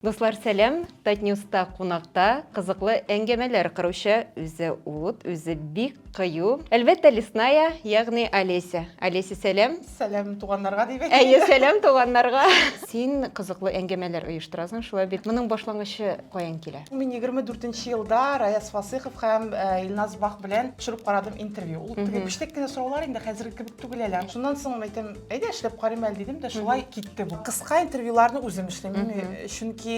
Дуслар сәлам, Татньюста кунакта кызыклы әңгәмәләр кыручы, үзе ут, үзе бик кыю, әлбәттә Лесная, ягъни Олеся. Олеся сәлам. Сәлам туганнарга дип әйтик. Әйе, сәлам туганнарга. Син кызыклы әңгәмәләр оештырасың, шулай бит? Моның башлангычы каян килә? Мин егерме дүртенче елда Раяз Фасыйхов һәм Илназ Бах белән төшереп карадым интервью. Ул теге пештэк кенә сораулар инде, хәзерге кебек түгел әле. Шуннан соң әйтәм, Әйдә эшләп карыйм әле дидем дә шулай китте бу. Кыска интервьюларны үзем эшлим, чөнки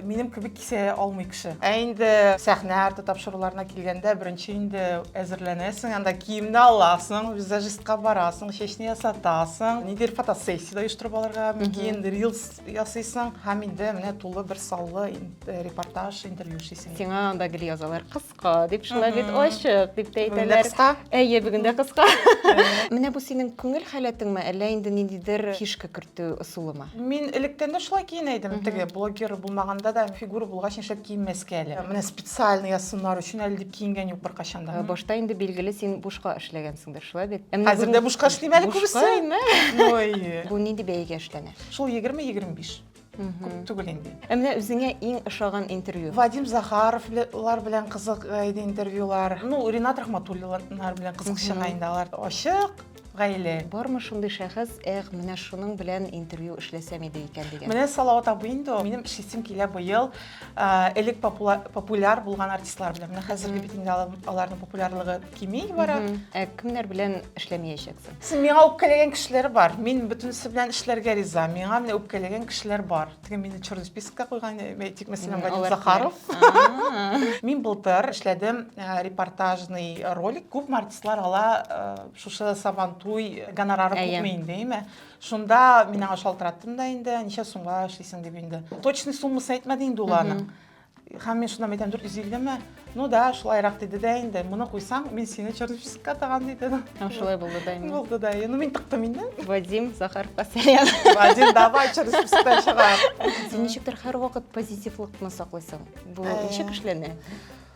минем кебек кисә алмый кеше. Ә инде сәхнә арты тапшыруларына килгәндә, беренче инде әзерләнәсең, анда киемне аласың, визажистка барасың, чәчне ясатасың, нидер фотосессия дә оештырып алырга мөмкин, рилс ясыйсың һәм инде менә тулы бер саллы репортаж, интервью эшлисең. Сиңа анда гел язалар, кыз Кыска дип шулай бит ачык дип тә әйтәләр. Бүген дә кыска? Әйе, бүген дә кыска. Менә бу синең күңел халәтеңме, әллә инде ниндидер фишка кертү ысулымы? Мин электән дә шулай киенә идем. Теге блогер булмаганда да фигура булгач, нишләп киенмәскә әле? Менә специально я сыннар өчен әле дип киенгән юк беркайчан да. Башта инде билгеле син бушка эшләгәнсеңдер, шулай бит? Хәзер дә бушка эшлим әле күбесе. Бушка инде. Бу нинди бәягә эшләнә? Шул 20-25. күп түгел инде ә менә үзеңә иң ошаган интервью вадим захаровлар белән кызык э, иде интервьюлар ну ринат рахматуллиннар белән кызык чыга инде алар ачык гаилә бармы шундый шәхес эх менә шуның белән интервью эшләсәм иде икән дигән менә салават абый инде ул минем эшлисем килә быел э, элек популяр булган артистлар белән менә хәзерге бит инде аларның популярлыгы кими бара ә кемнәр белән эшләмәячәксең син миңа үпкәләгән кешеләр бар мин бөтенесе белән эшләргә риза миңа менә үпкәләгән кешеләр бар теге мине черный спискка куйган әйтик мәсәлән вадим захаров мин былтыр эшләдем репортажный ролик күпме артистлар ала шушы сабантуй гонорары күпме инде әйме шунда мин аңа шалтыраттым да инде ничә сумга эшлисең дип инде точный суммасын әйтмәде инде ул аның Һәм мин шуннан әйтәм, 450 ме? Ну да, шулайрак диде дә инде. Моны куйсаң, мин сине Чернышевскка тагам диде. Һәм шулай булды да инде. Булды да. Ну мин тыктым инде. Вадим Захаровка сәлам. Вадим, давай Чернышевскка чыга. Син ничектер һәрвакыт позитивлыкны саклыйсың. Бу э. ничек эшләнә?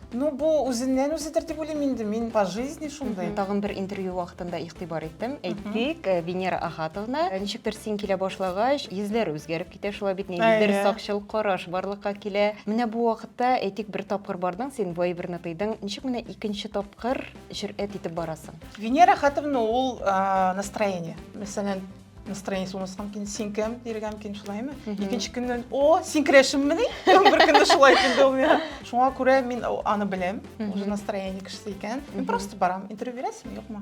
Ну, бу үзеннән үзе тәртип уйлыйм инде, мин по жизни шундый. Тагын бер интервью вакытында игътибар иттем. Әйтик, э, Венера Ахатовна, э, ничектер син килә башлагач, йөзләр үзгәреп Китә шулай бит нинди бер сакчыл караш барлыкка килә. Менә бу вакытта, әйтик, бер тапкыр бардың син, бу әйберне тыйдың, ничек менә икенче тапкыр җөрьәт итеп барасың? Венера хатымны ул настроение. Мәсәлән, настроение сумасы мөмкин син кем диергә мөмкин шулаймы икенче көннән о син керәшенмени бер көнне шулай килде ул миңа шуңа күрә мин аны беләм уже настроение кешесе икән мин просто барам интервью бирәсеңме юкмы